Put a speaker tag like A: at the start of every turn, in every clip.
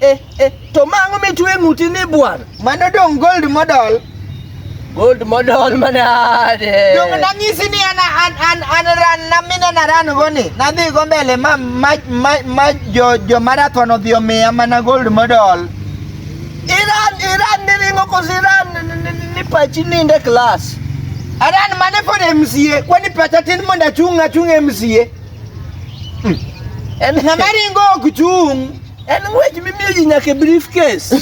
A: Eh, eh, to mang'o mitwe ng'uti ni bwana? Mano dong gold
B: model. Gold
A: model manade. Dong nanyisi
B: ni an an an an ran na mina na ran goni. Nadhi go mbele ma ma ma, ma jo jo marathon odhi omiya mana gold model. Iran
A: Iran ni ringo kos Iran ni pachi ninde class. Aran mane
B: pod MCA kwani pacha tin mondo achung' achung' MCA.
A: Hmm. Ng'ama ringo ok chung'.
B: En ng'wech
A: mimiyo ji nyaka e briefcase.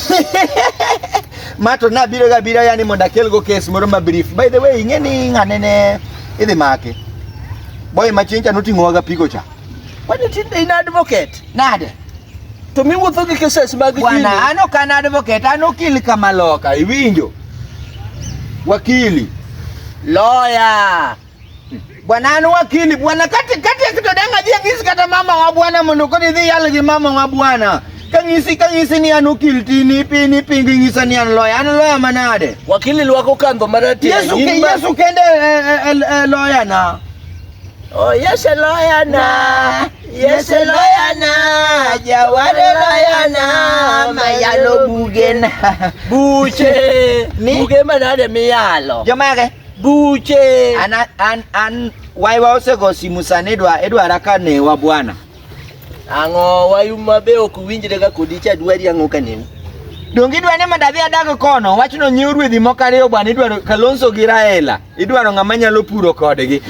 B: Ma to nabiro ga biro yani mondo akelgo kes moro ma brief. By the way, ing'e ni ng'ane ne idhi make. Boy ma chieng' cha noting'owaga pigo cha. Kwani tinde in
A: advocate? Nade?
B: To miwuotho
A: gi cases mag Bwana, kidi. an ok an
B: advocate, an okil kama loka, iwinjo? Wakili,
A: lawyer.
B: bwana anu wakili bwana kati kati akitodanga je ngisi kata mama wa bwana mundu kodi dhi yalgi mama wa bwana kang'isi kang'isi ni an okil ti ni pi ni pi ng'isa ni an loya an loya manade wakili lwako kandho
A: marati Yesu ke Yesu kende
B: e, e, e, loya na Oh
A: Yesu loya na Yesu loya na jaware loya na mayalo bugen buche buge manade miyalo jomage
B: buche
A: an, an, an
B: waiwa osego simu sani idwa idwara ka newa bwana ang'o
A: wayu mabe ok winjre ga kodi cha dwari ang'o ka newu donge idwa ni
B: mondo adhi adag kono wachno nyiew ruedhi moko ariyo bwana idwaro kalonso gi raela idwaro ng'ama nyalo puro kodgi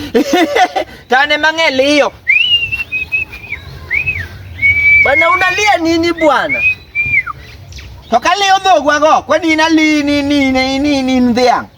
B: tane mang'e liyo
A: bana unalia nini bwana
B: to kaliyo dhogwago kwani inalini nini nini dhiang'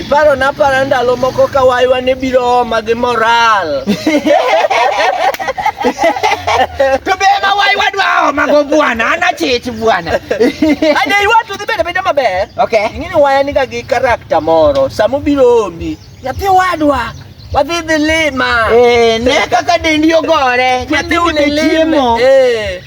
B: Iparo na para
A: ndalo moko ka waywa ne biro oma gi moral.
B: To be ma wai wadwa oma go bwana, ana chich bwana. Ade
A: iwa to dhibede bede maber. Okay. Ing'e ni waya
B: niga gi
A: karakta moro. Sama obiro omi, nyathi wadwa. Wadhi dhi lima. Eh, ne kaka
B: dendi ogore, nyathi Wadhi une dhi lime.
A: chiemo. Eh.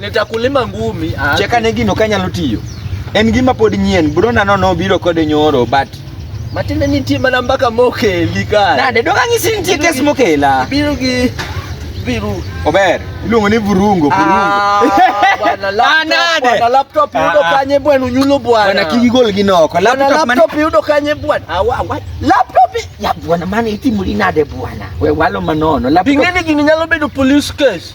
A: Nitakulima ngumi. Ah. Cheka ne gino kanyalo
B: tiyo. En gima pod nyien. Brona no no biro kode nyoro but Matinde nitie
A: mana mbaka mokeli ka. Nade dong ang'isi nitie
B: kes mokela. Biro gi
A: viru. Ober.
B: Iluongo ni vurungo, ah, vurungo. Bwana laptop,
A: bwana laptop yudo ah, ah. kanye bwana unyulo bwana. Bwana kiki gol gi noko.
B: Laptop man laptop yudo
A: kanye bwana. Awa awa. Laptop ya bwana
B: mane itimo linade bwana. We walo manono. Laptop. Pingeni gini nyalo
A: bedo police case.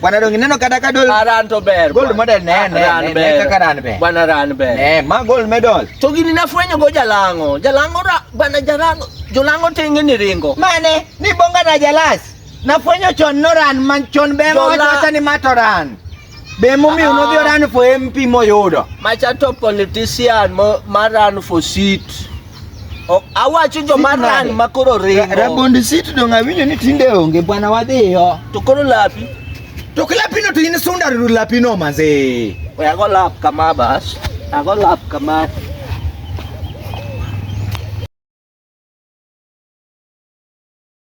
B: Bwana dongi neno kata ka dol aran to ber gold
A: model ne ne ne
B: kaka ran be bwana ran be ne
A: ma gold medal
B: to gini nafwenyo go
A: jalango jalango ra bwana jalango jolango tenge ni ringo mane ni bonga
B: na jalas nafwenyo chon no ran man chon be mo wacha ni mato ran be mo mi uno bi ah. ran fo MP moyudo
A: macha
B: to
A: politician mo maran fo seat Ok, awacho joma Sit ran nade? ma koro Ra- ringo. Rabond sit dong
B: awinjo ni tinde onge bwana wadhiyo. To koro lapi.
A: To kilapino
B: to in sunda ru lapino manze.
A: We ago lap
B: kama
A: bas.
B: Ago
A: lap
B: kama.